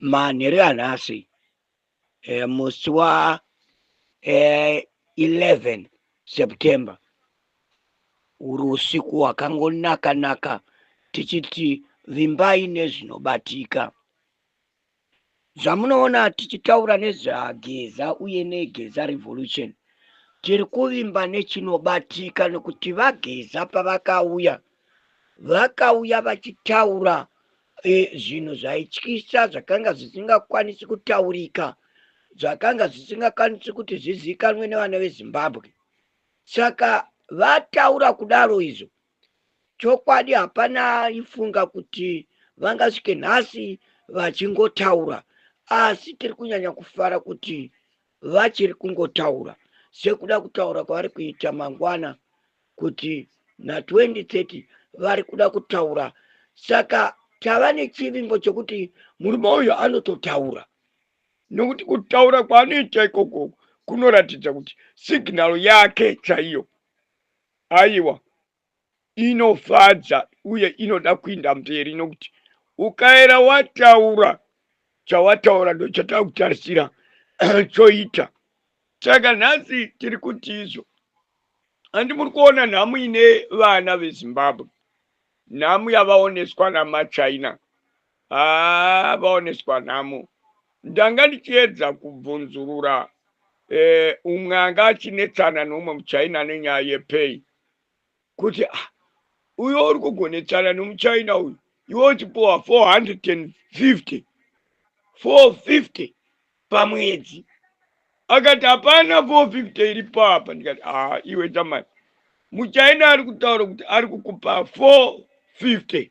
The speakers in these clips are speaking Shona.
manheru anhasi eh, musi wa eh, 11 september uri usiku hwakangonaka naka tichiti vimbai nezvinobatika zvamunoona tichitaura nezvageza uye negeza revolution tiri kuvimba nechinobatika nekuti vageza pavakauya vakauya vachitaura zvinhu zvaityisa zvakanga zvisingakwanisi kutaurika zvakanga zvisingakwanisi kuti zvizivikanwe nevana vezimbabwe saka vataura kudaro izvo chokwadi hapana ifunga kuti vangasvike nhasi vachingotaura asi tiri kunyanya kufara kuti vachiri kungotaura sekuda kutaura kwavari kuita mangwana kuti na 2030 vari kuda kutaura saka tava nechivimbo chekuti murume uyu anototaura nokuti kutaura kwaanoita ikoko kunoratidza kuti signal yake chaiyo aiwa inofadza uye inoda kuinda mberi nokuti ukaera wataura chawataura ndochataa kutarisira choita saka nhasi tiri kuti izvo handi muri kuona nhamu ine vana vezimbabwe nhamu yavaoneswa namachina haa ah, vaoneswa nhamu ndanga ndichiedza kubvunzurura eh, umwe anga achinetsana neumwe muchina nenyaya yepei kuti ah, uyo uri kugonetsana nemuchina uyu iwe uchipuwa 450 450 pamwedzi akati hapana 450 iri papa ndikati aa ah, iwe tamani muchina ari kutaura kuti ari kukupa 450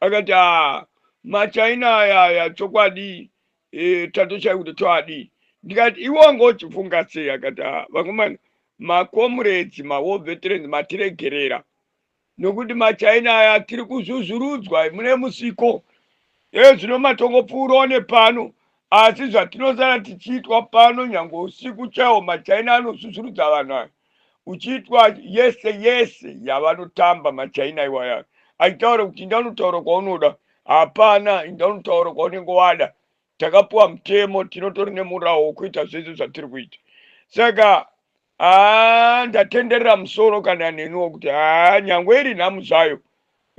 akati aa machaina aya aya chokwadi e, tatoshaya kuti toadii ndikati iwe wanga uchifunga sei akati aa vakomana makomuredzi mawar veterans matiregerera nokuti machaina aya tiri kuzvuzvurudzwa mune musiko ezvino matongopfuurawo nepano asi zvatinosara tichiitwa pano nyange usiku chaiwo machaina anozvuzvurudza vanhu aya uchiitwa yese yese yavanotamba machaina iwaya achitaura kuti inda unotaura kwaunoda hapana inda unotaura kwaunenge wada takapiwa mutemo tinotori nemurawo wokuita zvese zvatiri kuita saka haa ndatenderera musoro kana neniwo kuti haa nyangwe iri nhamu zvayo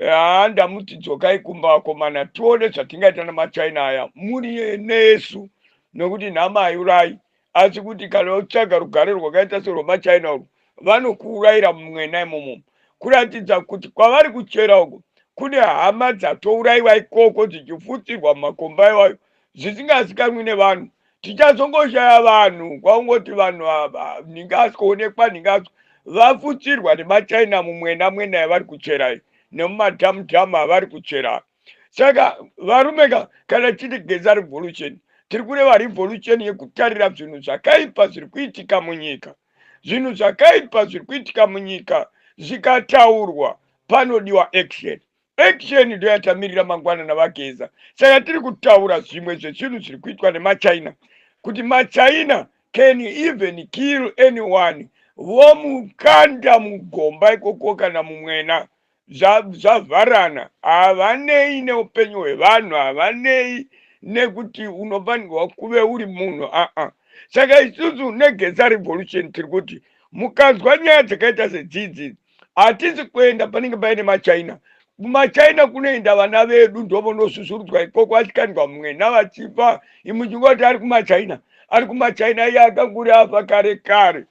haa ndamuti dzokai kumba vakomana tione zvatingaita namachina aya muri nesu nokuti nhama haiurayi asi kuti kana utsvaga rugare rwakaita serwemachina urwu vanokuurayira mumwena imomo kuratidza kuti kwavari kuchera uko kune hama dzatourayiwa ikoko dzichifutsirwa mumakomba iwayo zvisingazikanwi nevanhu tichazongoshaya vanhu kwaungoti vanhu ava ndingazoonekwa ndingazo vafutsirwa nemachina mumwena mwena yavari kuchera iyi nemumadhamudhamu avari kuchera saka varume ka kana chiti geza revolution tiri kureva revolution yekutarira zvinhu zvakaipa zviri kuitika munyika zvinhu zvakaipa zviri kuitika munyika zvikataurwa panodiwa action Action ndoyatamirira mangwana navageza. Saka tiri kutaura zvimwe zvezvinhu zviri kuitwa nemachina kuti machina can even kill anyone vomukanda mugomba ikoko kana mumwena zvavharana havanei neupenyu hwevanhu havanei nekuti unofanirwa kuve uri munhu aa saka isusu negeza revolution tiri kuti mukanzwa nyaya dzakaita sedzidzi hatisi kuenda panenge paine machina kumachina kunoenda vana vedu ndovonosvusvurudzwa ikoko vachikandwa mwena vachifa imuchinga kuti ari kumachina ari kumachina iye akakuri afa kare kare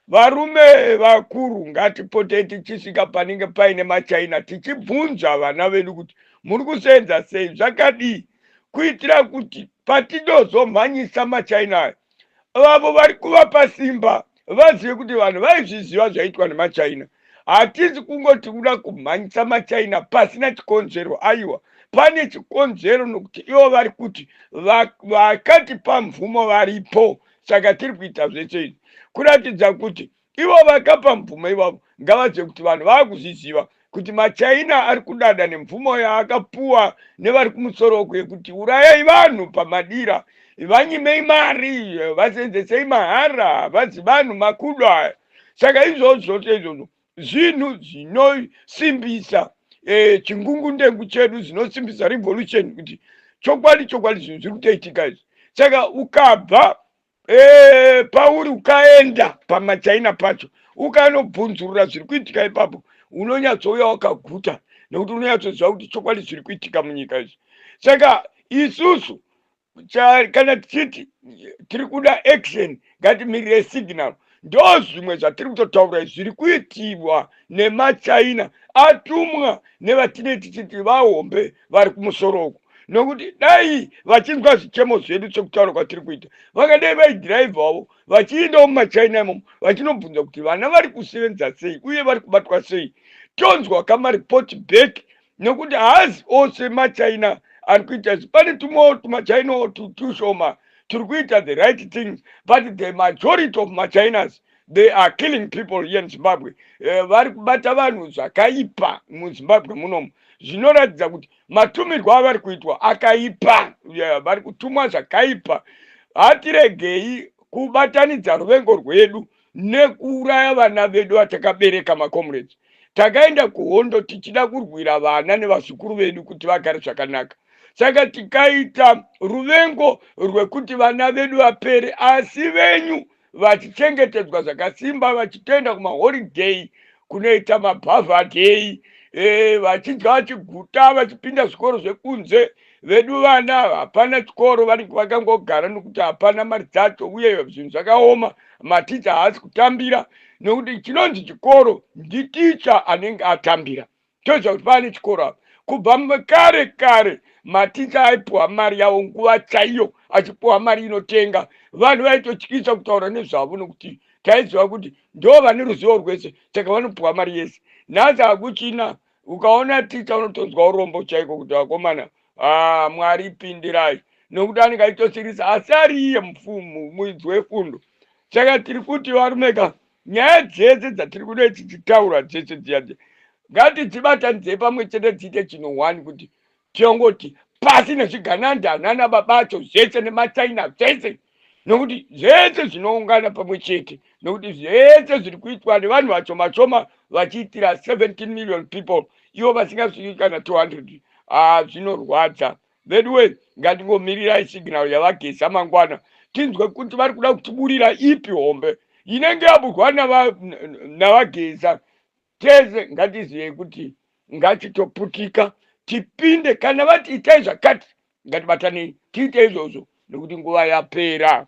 varume vakuru ngatipotei tichisvika panenge paine machina tichibvunza vana vedu kuti muri kuseenza sei zvakadii kuitira kuti patidozomhanyisa machina ayo vavo vari kuvapa simba vazive kuti vanhu vaizviziva zvaitwa nemachina hatisi kungoti kuda kumhanyisa machina pasina chikonzero aiwa pane chikonzero nokuti ivo vari kuti vakatipa mvumo varipo saka tiri kuita zvese izvi kuratidza kuti Ivo vakapa mvumo ivavo ngavadze kuti vanhu vakuzviziva kuti machaina ari kudada nemvumo yaakapuwa nevari kumusoro uku yekuti urayai vanhu pamadira vanyimei mari vasenzesei mahara vazi vanhu makudo aya saka izvozvo zvose izvozvo zvinhu zvinosimbisa e, chingungundengu chedu zvinosimbisa revolution kuti chokwadi chokwadi zvinhu zviri kutoitika izvi saka ukabva Ee, pauri ukaenda pamachaina pacho ukanobvunzurura zviri kuitika ipapo unonyatsouya wakaguta nekuti unonyatsoziva kuti chokwadi zviri kuitika munyika izvi saka isusu kana tichiti tiri kuda action ngatimirire signal ndo zvimwe zvatiri kutotaura izvi zviri kuitirwa nemachina atumwa nevatine tichiti vahombe vari kumusoro uku nokuti dai vachinzwa zvichemo zvedu sekutaura kwatiri kuita vangadai vaidhiraivhavo vachiendawo mumachina imomo vachinobvunza kuti vana vari kusevenza sei uye vari kubatwa sei tonzwa kamaripoti back nekuti haazi ose machina ari kuita izvi pane tumwewo tumachinawo tushoma turi kuita the right things but the majority of machinas they are killing people here in zimbabwe eh, vari kubata vanhu zvakaipa muzimbabwe munomu zvinoratidza kuti matumirwo avari kuitwa akaipa vari kutumwa zvakaipa hatiregei kubatanidza ruvengo rwedu nekuuraya vana vedu vatakabereka macomrades takaenda kuhondo tichida kurwira vana nevazukuru vedu kuti vagare zvakanaka saka tikaita ruvengo rwekuti vana vedu vapere asi venyu vachichengetedzwa zvakasimba vachitoenda kumaholiday kunoita mabhavhadheyi e, vachidya vachiguta vachipinda zvikoro zvekunze vedu vana hapana chikoro vari vakangogara nokuti hapana mari dzacho uye zvinhu zvakaoma maticha haasi kutambira nokuti chinonzi chikoro nditicha anenge atambira toziva kuti pane chikoro apa kubva kare kare maticha aipiwa mari yavo nguva chaiyo achipiwa mari inotenga vanhu vaitotyisa kutaura nezvavo nokuti taiziva kuti ndo vane ruzivo rwese saka vanopiwa mari yese nhasi hakuchina ukaona ticha unotonzwa urombo chaiko kuti vakomana ah, mwari pindirai nokuti anenge aitosirisa asi ariiye mufumu muidzi wefundo saka tiri kuti varumeka Nyaya dzese dzatiri kudai tichitaura dzese dziya dziya ngatidzibatanidzei pamwe chete dziite chino one kuti tiongoti pasi nezvigananda nana babacho zvese nemachina zvese nokuti zvese zvinoungana pamwe chete nokuti zvese zviri kuitwa nevanhu vashoma shoma vachiitira 17 million people ivo vasingazvii kana 200 ah, zvinorwadza veduwe ngatingomirirai signal yavageza mangwana tinzwe kuti vari kuda kutiburira ipi hombe inenge yaburwa navageza tese ngatizivei kuti ngatitoputika tipinde kana vati itai zvakati ngatibatanei tiite izvozvo nekuti nguva yapera